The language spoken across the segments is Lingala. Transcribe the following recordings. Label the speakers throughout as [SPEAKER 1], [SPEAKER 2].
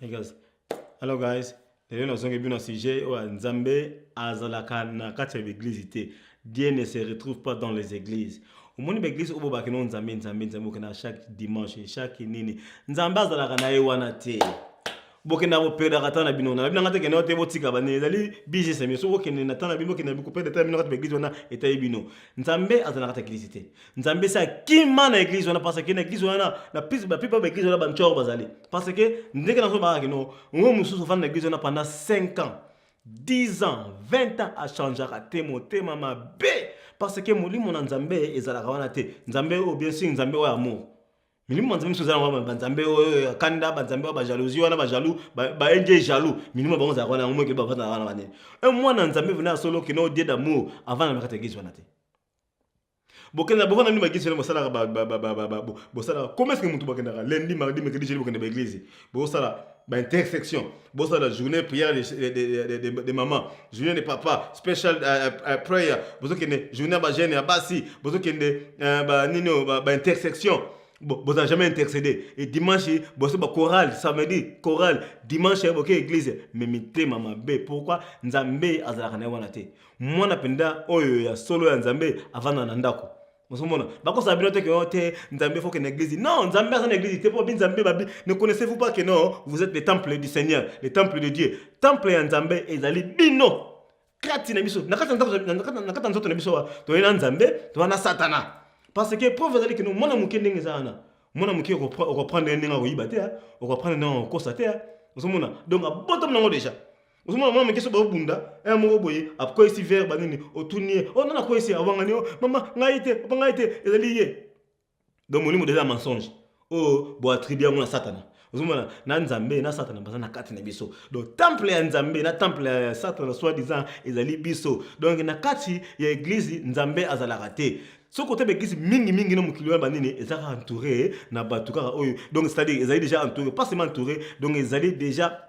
[SPEAKER 1] Hey guys. Hello guys. lelo nazongi bino na sujet oyo nzambe azalaka na kati ya baeglize te dieu ne se retrouve pas dans les églises omoni baeglize oyo bobaki no nzambe nzambe nzambe okenda chaque dimanche chaque nini nzambe azalaka na ye wana te bokenda koperdaka ntango na bino wana bino nga te kende te botika bane ezali business na bino soki okende na ntango na bino bokenda koperdre ntango na bino kati baeglise wana etayi bino nzambe azalaka ta eglise te nzambe esi akima na eglise wana parce que na eglise wana na plus bapipa baeglise wana bancor bazali parce que ndenge nazo baka kino ngo mosusu ofandi na eglise wana pendant 5 ans 10 ans 20 ans achangeaka te motema mabe parce que molimo na nzambe ezalaka wana te nzambe oyo bien sûr nzambe oyo amour milimo banzambe mosusu ezalaka wana banzambe oyo ya kanda banzambe oyo bajalousie wana bajalou baenge jalou milimo bango ezalaka wana yango moke bavandaka wana banene e mwana nzambe vena ya solo kino odie damour avanda na kati ya eglise wana te bokenda bovanda nini baeglise wana bosalaka bosalaka komeseke motu bakendaka lendi mardi mercredi jeudi bokenda baeglise bosala ba intersection bosala journée prière de, de, de, de, de, de maman journée de papa special uh, uh, prayer bozokende journée ya bagene ya basi bozokende uh, ba nini oyo ba, ba intersection boza jamais intercédé et dimanche bosi ba chorale samedi chorale dimanche boke église mais mitema mabe pourquoi nzambe azalaka na ye wana te mwana mpenza oyo ya solo ya nzambe avanda na ndako ozomona bakosala bino te keno te nzambe foke na eglise non nzambe aza na eglise te mpo babi nzambe babi ne connaissez vous pas que non vous êtes le temple du seigneur le temple de dieu temple ya nzambe ezali bino kati na biso na kati ya nzoto na biso toyei na nzambe toza na satana parce que preuve ezali keno mwana moke ndenge eza wana mwana moke okoprendre ndenge akoyiba te okoprendre ndenge akokosa te ozomona donc abotomi nango déjà ozomona mwana moke so baobunda e eh, moko boye akwesi vere banini otuni ye o oh, nana akwesi awangani o oh, mama ngai te papa ngai te ezali ye donc molimo deja mensonge oyo oh, boatribi yango na satana ozomona na nzambe na satana baza na kati na biso donc temple ya nzambe na temple ya satana soit disant ezali biso donc na kati ya eglize nzambe azalaka te soki oteba eglise mingimingi na mokili wana banini eza kaka entouré na bato kaka oyo donc c'est-à-dire ezali déjà entouré pas seulement entouré donc ezali déjà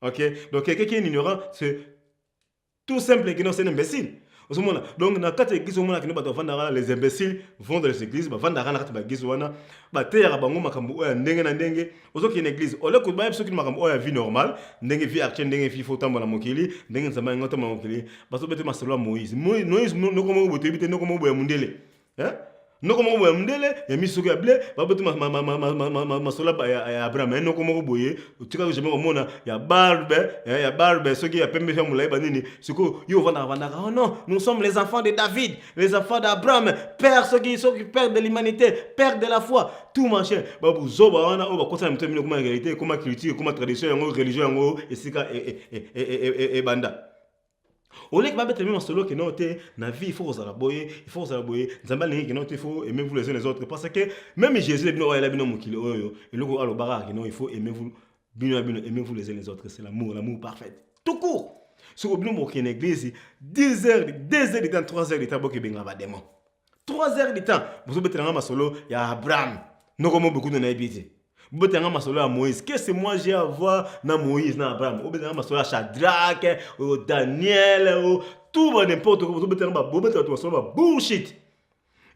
[SPEAKER 1] Ok, donc quelqu'un qui est ignorant, c'est tout simple que non, c'est un imbécile. ozomona donc na kati ya eglise omona kende bato bavandaka les imbéciles vont dans les églises bavandaka na kati baeglise wana bateyaka bango makambo oyo ya ndenge na ndenge ozokende eglise ole koyeba biso kini makambo oyo ya vie normale ndenge vie actuelle ndenge vie fo otambola mokili ndenge nzambe yango otambola mokili bazobete masolo ya moïse moïse noko moko botoyebi te noko moko boya mondele eh? noko moko boye ya mondele ya misoko ya ble baboti masola ya abraham ya noko moko boye otikaka jamai komona ya barbe eh, ya barbe soki ya pembe ya molai banini sikoyo yo ovandaka vandaka oh non nous sommes les enfants de david les enfants d'abraham père soki soki père de l'humanité père de la foi tout machin babuzoba wana oyo bakosa na mito mino ekoma réalité ekoma culture ekoma tradition yango religion yango esika ebanda e, e, e, oleki babetela mimi masolo okende oyo te na vie il faut kozala boye il faut kozala boye nzambe alingi kende oyo te il faut aimez vous les uns les autres parce que même jésus bino oyo ayela bino mokili oyo eloko alobaka kende oyo il faut aimez vous bino na bino aimez vous les uns les autres c'est l'amour l'amour parfait tout court soki bino bokende eglise 10 heures 2 heures de temps 3 heures de temps bokebenga bademon 3 heures de temps bozobetela nga masolo ya abraham noko mo bokutu nayebi ye te bobetela nga masolo ya moïse kese moi je avoir na moïse na abraham obetela nga masolo ya shadrake oyo daniel oyo tout ba n'importe quoi bozobetela nga bobetela bato masolo ba bullshit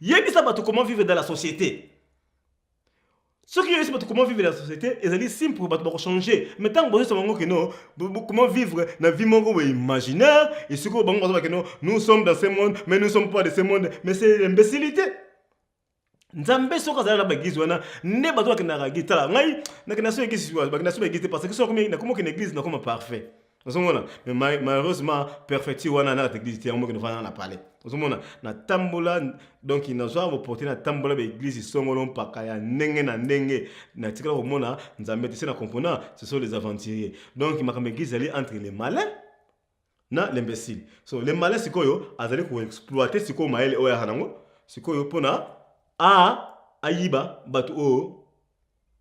[SPEAKER 1] yebisa bato comment vivre dans la société soki yo yeseba comment vivre la société ezali simple bato bakochange mais ntango bozesa bango keno comment vivre na vie moko boye imaginaire et soki oyo bango bazoba keno nous sommes dans ce monde mais nous sommes pas de ce monde mais c'est l'imbécilité nzambe soki azali na baeglise wana nde bato bakendaka eglise tala ngai nakenda so eglise bakenda so baeglise te parce que soki nakomi okende eglise nakoma parfait ozomona mais malheureusement perfecti wana na église te yango mokende fana na palais ozomona natambola donc nazwa boporte natambola baeglise songolo mpaka ya ndenge na ndenge natikala komona nzambe te se na compona ce sont les aventuriers donc makambo église ezali entre les malins na l'imbécile so le malin sikoyo azali koexploite sikoyo mayele oyo ayaka nango sikoyo mpona a ayiba bato oyo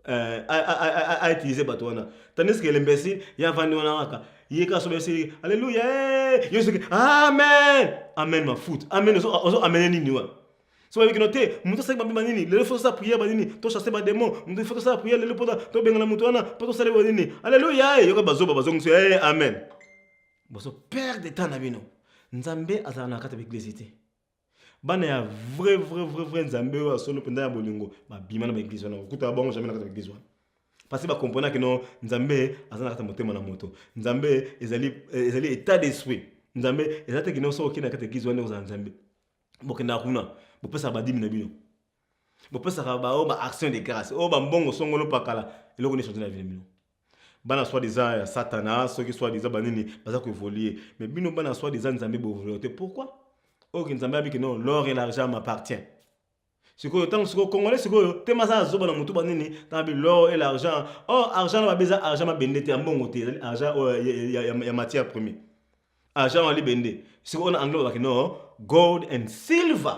[SPEAKER 1] Euh, a utiliser bato wana tandis que l'imbécile ya vandi wana kaka ye kaka sobe esili alleluia eh! yo soki amen amen mafuta amen ozo amene nini wana so bayebi kino te moto asali bambi banini lelo fo tosala priere banini tochasse bademon moto fo tosala priere lelo mpona tobengana moto wana mpo tosali banini alleluia eh! yoka bazoba bazongiso e eh, amen bozo perdre temps na bino nzambe azala na kati ya baeglise te bana ya vrai vrai vrai vrai nzambe oyo ya solo mpenza ya bolingo babima na baeglise wana kokuta bango jamai na kati ya baeglise wana parce bakomponaki no nzambe aza na kati ya motema na moto nzambe ezali, eh, ezali état d'esprit nzambe eza te kino soki okende na kati ya eglise wana okozala nzambe bokendaka kuna bopesaka badimi na bino bopesaka baoyo ba action de grâce oyo bambongo songolo pakala eloko nini change na vie bino bana soit disant ya satana soki soit disant banini baza koevolue mais bino bana soit disant nzambe boevolue te pourquoi oyo ke nzambe abiki non l'or et l'argent m'appartient sikoyo ntango sikoyo congolais sikoyo te maza azoba na motu banini ntangabi l'or et l'argent or oh, argent na babe eza argent mabende te ya mbongo te ezali argent oyo oh, ya matière premier argent wali bende sikoyo na anglais babaki no gold and silver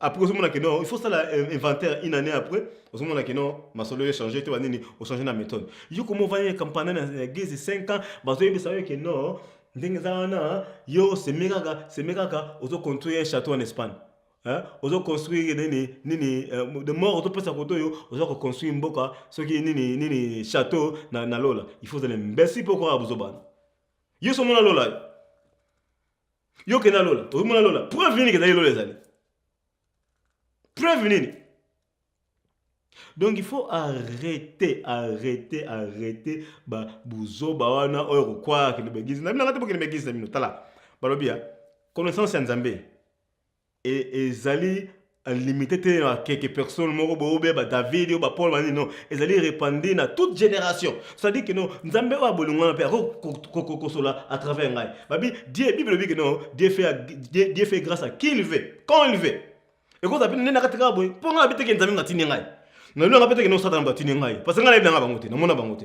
[SPEAKER 1] après ozomona ke non il faut sala inventaire une année après ozomona ke non masolo echange te banini ochange na méthode yo komo ovandi na kampanda na gezi 5 ans bazoyebisa yo ke non ndenge eza wana yo seme kaka seme kaka ozo construire un château en espagne ozo construire nini nini euh, de mort ozopesa koto oyo oza koconstruire mboka soki nini nini château na, na lola il faut ozala mbesi mpo okoka bozobana yo somona lola Yo kenda lola, okomona lola. Preuve nini kezali lola ezali? Preuve nini? Donc il faut arrêter, arrêter, arrêter ba buzoba wana oyo kokwa kende begizi. Na bino ngate bokende begizi na bino. Tala. Balobi ya connaissance ya Nzambe. Et ezali limite te na quelques personnes moko boye obe ba David yo ba Paul ba nini non ezali repandi na toute génération ça dit que non Nzambe oyo abolingo wana pe ako kosola à travers ngai babi Dieu Bible lobi que non Dieu fait Dieu, Dieu fait grâce à qui il veut quand il veut et quand apina nena katika boye po ngai biteke Nzambe ngatini ngai na lona pete que non Satan batini ngai parce que ngai na bango te na mona bango te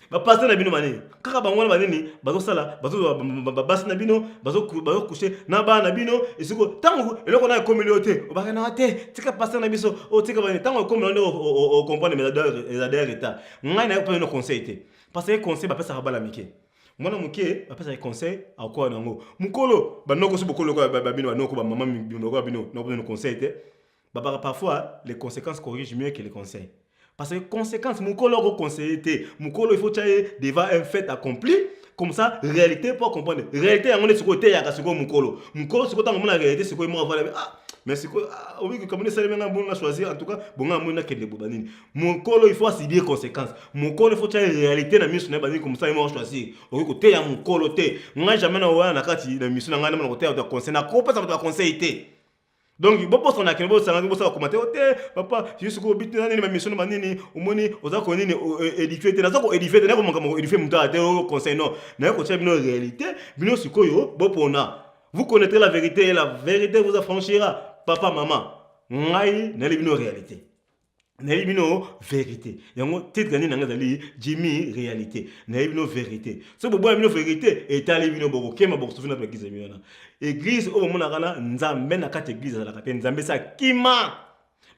[SPEAKER 1] bapaster na bino banini kaka bango wana banini bazosala basi na bino bazokushe na bana na bino esiko ntango eloko nayo ekomeli yo te obakanaka te tika paster na biso otika banini ntango ekomela nde okomprendre mais eza daya retard ngai nayo mpe na conseil te parce que conseil bapesaka bana mike mwana moke bapesaka conseil akoa na yango mokolo banoko so bokolo babino banoko bamama bino lokola bino nakoa bino conseil te babaka parfois les conséquences corrigent mieux que les conseils parce que conséquence mokolo oko conseiller te mokolo il faut tya ye devant un fait accompli comme ça réalité po comprendre réalité yango nde sikoyo eteyaka sikoyo mokolo mokolo sikoyo ntango omona réalité sikoyo moko avala ah mais sikoyo ah, obi kokamoni esalemi ngai mbongo na choisir en tout cas bongo amoni nakende boba nini mokolo il faut asibie conséquence mokolo il faut tya réalité na miso na ye bandini comme ça ye moko choisir okoki koteya mokolo te ngai jamais na owana na kati na miso na ngai namona koteya bato ya conseil nakopesa bato ya conseil te donc bobosana kende bosangaki bosala komate o te papa yesu ko obiti na nini bamiso na banini omoni oza ko nini edifie te naza ko edifie te nayeko makambo edifie moto aya te oyo conseil non naye kotia bino réalité bino sikoyo bopona vous connaîtrez la vérité et la vérité vous affranchira papa mama ngai nayeli bino réalité nayebi bino verité yango titre nini nanga ezali jimi réalité nayebi bino verité soki boboya bino verité etali bino bokokema bokosufi na baeglize ya bino wana eglize oyo bomonaka na nzambe na kati eglize azalaka te nzambe esi akima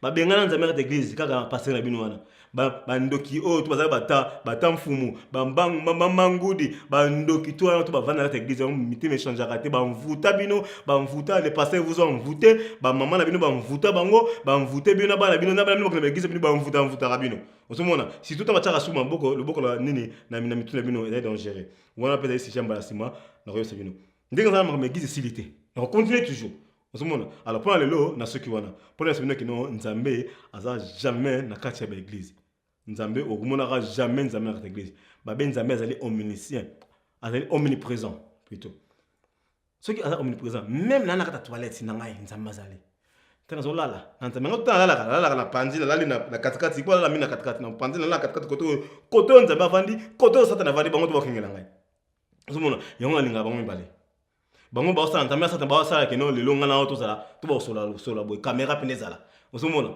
[SPEAKER 1] babengana nzambe na kati eglize kaka pastere na bino wana bandoki oyo to bazali bata bata mfumu bambangudi bandoki to wana to bavanda kati eglise yango mitema echangeaka te bamvuta bino bamvuta le pasteur vous a envoute bamama na bino bamvuta bango bamvute bino na bana bino na bana bino bakenda ba eglise bino bamvuta bamvutaka bino ozomona surtout ntango atyaka su maboko loboko na nini na mitu na bino ezali dangereux wana mpe ezali sija mbala nsima nakoyebisa bino ndenge eza na makambo eglise esili te nakocontinue toujours ozomona alors mpona lelo na soki wana mpona yasa bino kino nzambe aza jamais na kati ya baeglise Nzambe okumonaka jamais Nzambe na kata eglise babe Nzambe azali omniscient azali omnipresent plutôt soki aza omnipresent même na nakata toilette na ngai Nzambe azali te nazolala na Nzambe yango tala lalaka nalalaka na panzi nalali na katikati po alala mingi na katikati na panzi nalala katikati kote oyo kote oyo Nzambe avandi kote oyo satana avandi bango to bakengela ngai ozomona yango nalingaka bango mibale bango baosala nzambe asata baosala keno lelo ngai nao tozala to baosolasola boye kamera mpene ezala ozomona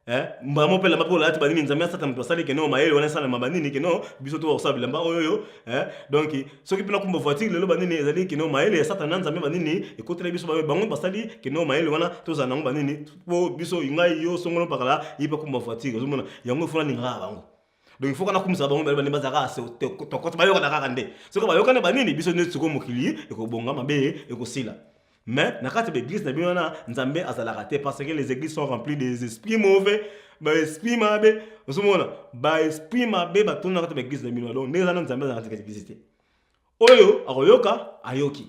[SPEAKER 1] eh, mbala moko mpe elamba mpe olalati banini nzambe asata moto asali keno mayele wana esalama banini keno biso to bakosala bilamba oyoyo eh, donc soki mpe nakumba voiture lelo banini ezali keno mayele ya satana nzambe banini ekotela biso bayo bango basali keno mayele wana tozala nango banini mpo biso ngai yo songolo mpakala ye mpe akumba voiture ozomona yango efona ningaka bango donc il faut kana kumisa bango bale bane baza kaka se tokoto bayokana kaka nde soki bayokana banini biso nde sikoyo mokili ekobonga mabe ekosila mais na kati ya baeglise na bino wana nzambe azalaka te parce que les églises sont remplies des esprits mauvais baesprit mabe ozomona baesprit mabe batonda na kati ya baeglise na bino donc ndenge ezana nzambe azalaka kati ya eglise te oyo akoyoka ayoki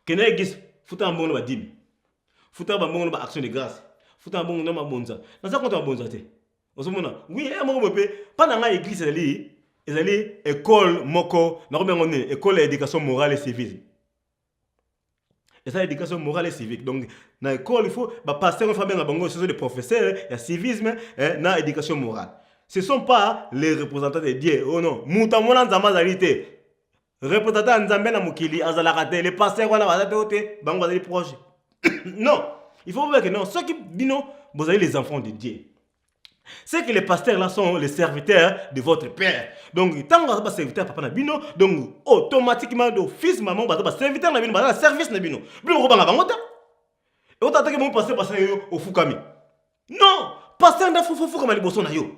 [SPEAKER 1] kende eglise futa na mbongo na badimi futa na bambongo na baaction de grâce futa na mbongo na mabonza naza konta mabonza te ozomona oui ya moko boye mpe mpa na ngai eglise ezali ezali ekole moko nakomi yango nini ekole ya éducation morale et civile eza éducation morale et civique donc na ekole il faut bapasteur oyo fabenga bango ce sont des professeurs ya civisme eh, na éducation morale ce sont pas les représentants de dieu oh non moto amona nzambe azali te representa ya nzambe na mokili azalaka te le pasteur wana baza te ote bango bazali proche non il faut bobeke non soki bino bozali les enfants de dieu c'est que les pasteurs là sont les serviteurs de votre père donc ntango baza baserviteur papa na bino donc automatiquement de fils maman baza baserviteur na bino baza na service na bino bino okobanga bango te otataki bango pasteur pasteur yo ofukami non pasteur nde afufukama liboso na yo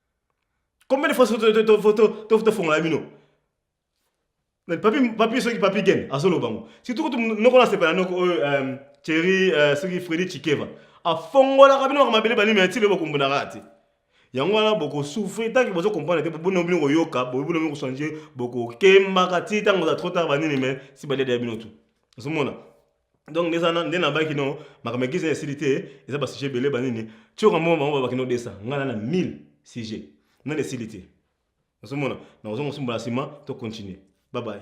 [SPEAKER 1] Combien de fois tofongola bino papi soki papi gen azoloba ngo surtout kutu noko nasepela noko oyo euh, cheri euh, soki fredi chikeva afongolaka bino baka mabele banimi yatile bokumbunaka te yango wana bokosouffre ntanke bozo comprendre te bobono bino koyoka bobono bino kochange bokokembaka ti ntango oza trop tard banini mai si baliadaya bino tu ozomona donc nde ezana nde nabaki no makambo ya giza esili te eza basujet ebele banini tioka moko bango babaki no desa ngai na na 1000 sujet nani esili te nazomona na kozonga osumbola nsima to continue babaye